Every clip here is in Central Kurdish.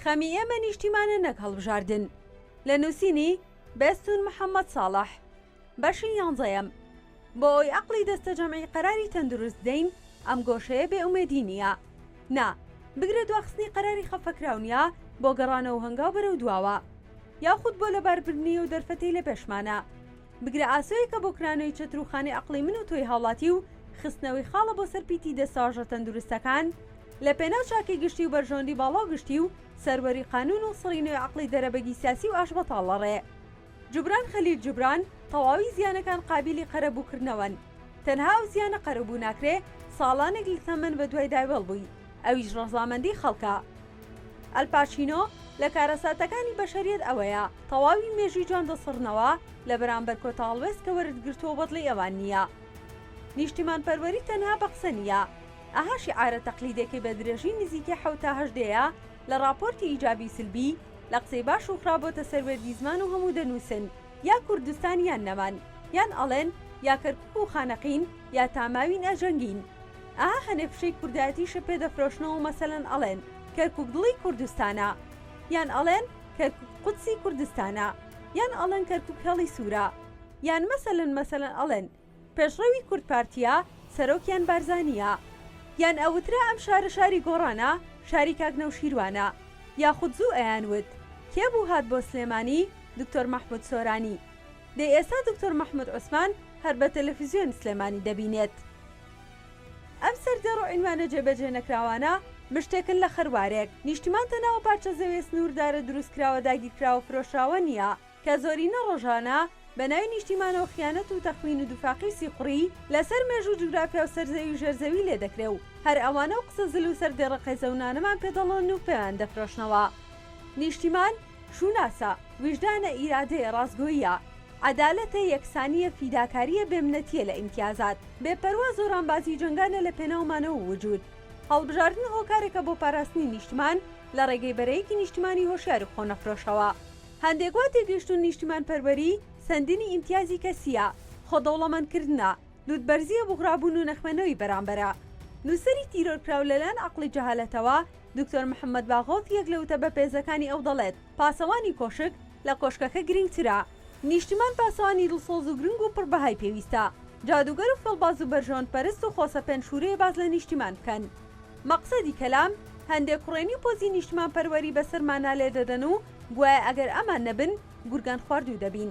خەمی ئێمە نیشتیمانە نەک هەڵبژاردن لە نووسینی بەستون محەممەد ساڵح بەشی یانزەیەم بۆ ئەوی ئەقلی دەستە جەمعی قەراری تەندروست دەین ئەم گۆشەیە بێ ئومێدی نییە نا بگرە دواخستنی قەراری خەفەکراونە بۆ گەڕانەوە هەنگاو بەرەو دواوە یاخود بۆ لەباربردنی و دەرفەتی لە پێشمانە بگرە ئاسۆیەکە بۆ کرانەوەی چەتر و خانەی عەقڵی من و تۆی هاوڵاتی و خستنەوەی خاڵە بۆ سەر پیتی دە ساژە تەندروستەکان لە پێناو چاکەی گشتی و بەرژەوەندی باڵا و گشتی و سەروەری قانوون و سڕی نوێ عەقڵی دەرەبەگی سیاسی و ئاشبەتاڵ لە ڕێ جوبران خەلیل جوبران تەواوی زیانەکان قابیلی قەرەبوو کردنەوەن تەنها ئەو زیانە قەرەبوو ناکرێ ساڵانێک لە تەمەن بە دوای داوێڵ بووی ئەویش ڕەزامەندی خەڵکە. ئەلپاچینۆ لە کارەساتەکانی بەشەریەت ئەوەیە تەواوی مێژووی جوان دەسڕنەوە لە بەرامبەر کۆتا هەڵوێست کە وەرت گرتووە بەدڵی ئەوان نییە نیشتیمان پەروەری تەنها بە قسە نییە ئەها شیعارە تەقلیدێکەی بە درێژی نزیکەی حەوت تا هەشت دەیە لە ڕاپۆرتی ئیجابی سلبی لە قسەی باش و خراپ بۆتە سەر وێردی زمان و هەموو دەنووسن یا کوردستان یان نەمان یان ئەڵێن یا کەرکوک و خانەقین یا تا ماوین ئەجەنگین. ئەها هەنێک فشەی کوردایەتیشە پێ دەفرۆشنەوە مەسەلەن ئەڵێن کەرکوک دڵی کوردستانە یان ئەڵێن کەرکوک قودسی کوردستانە یان ئەڵێن کەرکوک هێڵی سورە یان مەسەلەن مەسەلەن ئەڵێن پێشڕەوی کورد پارتیە سەرۆکیان بارزانیە یان ئەوترا ئەم شارە شاری گۆڕانە شاری کاک نەوشیروانە یاخود زوو ئەیان وت کێ بوو هات بۆ سلێمانی دکتۆر مەحمود سۆرانی دەی ئێستا دکتۆر مەحمود عوسمان هەر بە تەلەفزیۆن سلێمانی دەبینێت. ئەم سەرجەڕ و عینوانە جێبەجێ نەکراوانە مشتێکن لە خەروارێک. نیشتیمان تەناوە پارچە زەویە سنووردارە دروستکراوە داگیرکراوە فرۆشراوە نییە، کە زۆرینە ڕۆژانە بە ناوی نیشتیمانەوە خیانەت و تەخوین و دوفاقی سیخوڕی لە سەر مێژوو جوگرافیا و سەر زەوی و ژێر زەوی لێ دەکرێ و هەر ئەوانە و قسە زل و سەردێڕە قێزەونانەمان پێ دەڵێن و پێیان دەفرۆشنەوە نیشتیمان شوناسە، ویژدانە ئیرادەیە ڕاستگۆییە، عەدالەتە یەکسانییە فیداکارییە بێ منەتییە لە ئیمتیازات، بێ پەروا زۆرانبازی جەنگانە لە پێناو مانەوە و وجود. هەڵبژاردن هۆکارێکە بۆ پاراستنی نیشتمان لە ڕێگەی بەرەیەکی نیشتمانی هۆشیار و خۆنەفرۆشەوە. هەندێک وا تێگەیشتوون نیشتمانپەروەری سەندنی ئیمتیازی کەسییە، خۆدەوڵەمەندکردنە، لووتبەرزییە بوغرابوون و نەخوێندنەوەی بەرامبەرە. نووسەری تیرۆرکراو لەلایەن عەقڵی جەهالەتەوە، دکتۆر محەمەد باغۆف یەک لە وتە بەپێزەکانی ئەو دەڵێت، پاسەوانی کۆشک لە کۆشکەکە گرنگترە. نیشتیمان پاسەوانی دڵسۆز و گرنگ و پڕ بەهای پێویستە. جادووگەر و فێڵباز و بەرژەوەند پەرست و خۆسەپێن شوورەیە باس لە نیشتیمان بکەن. مەقسەدی کەلام، هەندێک کوڕێنی و پۆزی نیشتیمانپەروەری بەسەرمانا لێ دەدەن و گوایە ئەگەر ئەمان نەبن، گورگان خواردوو دەبین.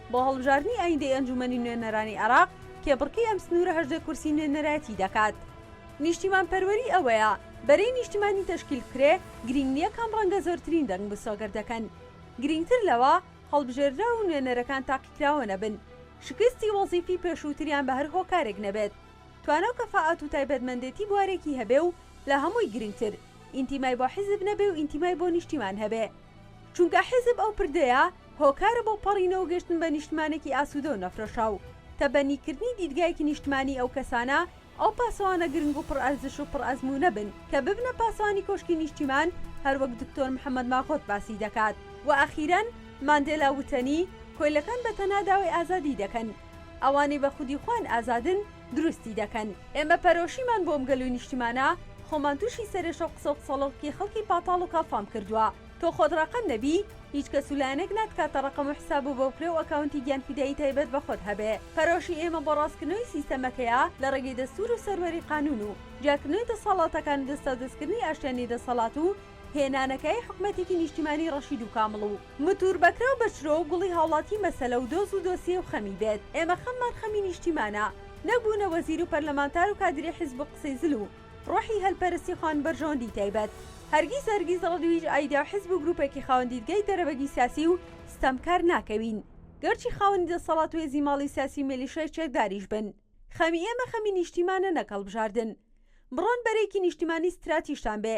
بۆ هەڵبژاردنی ئایندەی ئەنجوومەنی نوێنەرانی عێراق، کێبڕکێی ئەم سنوورە هەژدە کورسی نوێنەرایەتی دەکات. نیشتیمانپەروەری ئەوەیە بەرەی نیشتیمانی تەشکیل بکرێ، گرینگ نییە کام ڕەنگە زۆرترین دەنگ مسۆگەر دەکەن. گرینگتر لەوە، هەڵبژێردراو و نوێنەرەکان تاقیکراوە نەبن، شکستی وەزیفی پێشووتریان بە هەر هۆکارێک نەبێت، توانا و کەفائات و تایبەتمەندێتی بوارێکی هەبێ و لە هەمووی گرینگتر، ئینتیمای بۆ حیزب نەبێ و ئینتیمای بۆ نیشتیمان هەبێ. چونکە حیزب ئەو پردەیە، هۆکارە بۆ پەڕینە و گەشتن بە نیشتمانێکی ئاسوودە و نەفرەشاو. تەبەنی کردنی دیدگایەکی نیشتمانیی ئەو کەسانە، ئەو پاسەوانە گرنگ و پڕ ئەرزش و پڕ ئەزموونە بن، کە ببنە پاسەوانی کۆشکی نیشتیمان، هەر وەک دکتۆر محەمەد ماغۆت باسی دەکات. وە ئەخیرەن، ماندێلا وتەنی، کۆیلەکان بە تەنها داوای ئازادیی دەکەن. ئەوانەی بە خودی خۆیان ئازادن، دروستی دەکەن. ئێمە پەرۆشیمان بۆ ئەم گەل و نیشتیمانە، خۆمان تووشی سەرێشە و قسە و قسەڵۆکی خەڵکی پاتاڵ و کاڵفام کردووە. تۆ خۆت ڕەقەم دەبی؟ هیچ کەس و لایەنەک ناتکاتە ڕەقەم و حساب و بەوپلە و ئەکاونتی گیانفیدایی تایبەت بە خۆت هەبێ. پەرۆشی ئێمە بۆ ڕاستکردنەوەی سیستەمەکەیە لە ڕێگەی دەستور و سەروەری قانون و جیاکردنەوەی دەسەڵاتەکان و دەستاودەستکردنی ئاشتیانەی دەسەڵات و هێنانەکایەی حکومەتێکی نیشتیمانی ڕەشید و کامڵ و متور بەکرا و بەچرۆ و گوڵی هاوڵاتی مەسەلە و دۆز و دۆسیەی و خەمی بێت. ئێمە خەممان خەمی نیشتیمانە نەک بوونە وەزیر و پەرلەمانتار و کادری حیزب و قسەی زل و. ڕۆحی هەلپەرستی خان بەرژەوەندی تایبەت هەرگیز هەرگیز ڕەد ویژ ئایدیا و حیزب و گروپێکی خاوەن دیدگای دەرەبەگی سیاسی و ستەمکار ناکەوین گەرچی خاوەنی دەسەڵات و هێزی ماڵی سیاسی و مێلیشای چەکداریش بن خەمی ئێمە خەمی نیشتیمانە نەک هەڵبژاردن بڕۆن بەرەیەکی نیشتیمانی ستراتیژتان بێ